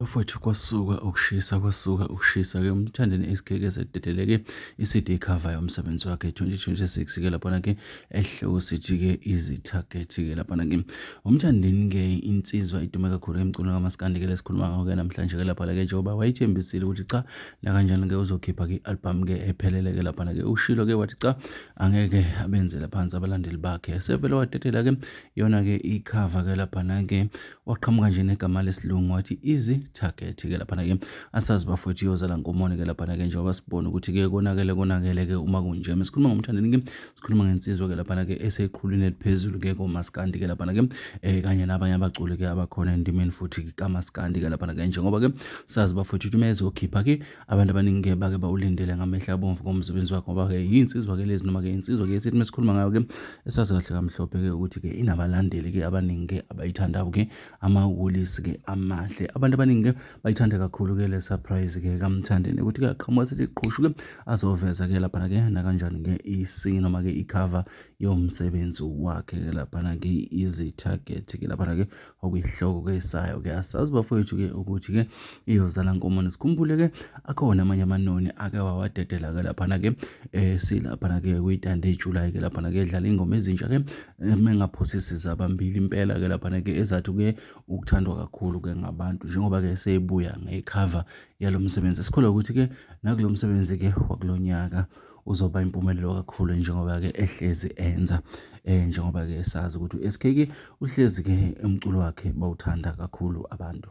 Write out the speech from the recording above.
Bafowethu kwasuka ukushisa kwasuka ukushisa ke umthandeni isigeke sededeleke iCD cover yomsebenzi wakhe 2026 ke lapha ke ehlewu sithi ke izitarget ke lapha ke umthandeni ke insizwa idume kakhulu emculo kamaskandi ke lesikhuluma ngawo ke namhlanje ke lapha ke njengoba wayithembisile ukuthi cha la kanjani ke uzokhipha ke album ke ephelele ke lapha ke ushilo ke wathi cha angeke abenzela phansi abalandeli bakhe sevele wadedela ke yona-ke ikhava ke laphana-ke waqhamuka nje negama lesilungu wathi easy target ke laphana-ke asazi bafowethu iyozala nkomoni ke laphana-ke njengoba sibona ukuthi-ke konakele konakele-ke uma kunje sikhuluma ngomthandeni-ke sikhuluma ngensizwa-ke laphana-ke eseqhulwini eliphezulu-ke komaskandi-ke laphana-ke um eh, kanye nabanye abaculi-ke abakhona endimeni futhi kamaskandi-ke laphana-ke njengoba-ke sazi bafowethu ukuthi uma ezokhipha-ke Abantu abaningi-ke bake bawulindele ngamehla abomvu komsebenzi wakhe ngoba-ke yinsizwa ke lezi noma-ke insizwa-ke esithi uma sikhuluma ngayo-ke esazi kahle kamhlophe-ke ukuthi-ke inabalandeli-ke abaningi-ke abayithandayo-ke amawulisi-ke amahle abantu abaningi-ke bayithanda kakhulu-ke le surprise-ke kamthandeni ukuthi-ke aqhamuka sithi qhushu-ke azoveza-ke laphana-ke nakanjani-ke isi noma-ke ikhava yomsebenzi wakhe-ke laphana-ke izi-target-ke laphana-ke okuyihloko ke sayo ke asazi bafowethu ke ukuthi ke iyozala nkomoni sikhumbule ke akhona amanye amanoni ake wawadedela ke laphana ke eh silaphana ke kuyitande iJuly ke laphana ke edlala ingoma ezintsha ke eh, mengaphosisi zabambili impela ke laphana ke ezathi ke ukuthandwa kakhulu ke ngabantu njengoba ke seyibuya ngecover yalomsebenzi sikholwa ukuthi ke nakulomsebenzi ke wakulonyaka uzoba impumelelo kakhulu njengoba-ke ehlezi enza um njengoba-ke esazi ukuthi u-s k ke uhlezi-ke umculo wakhe bawuthanda kakhulu abantu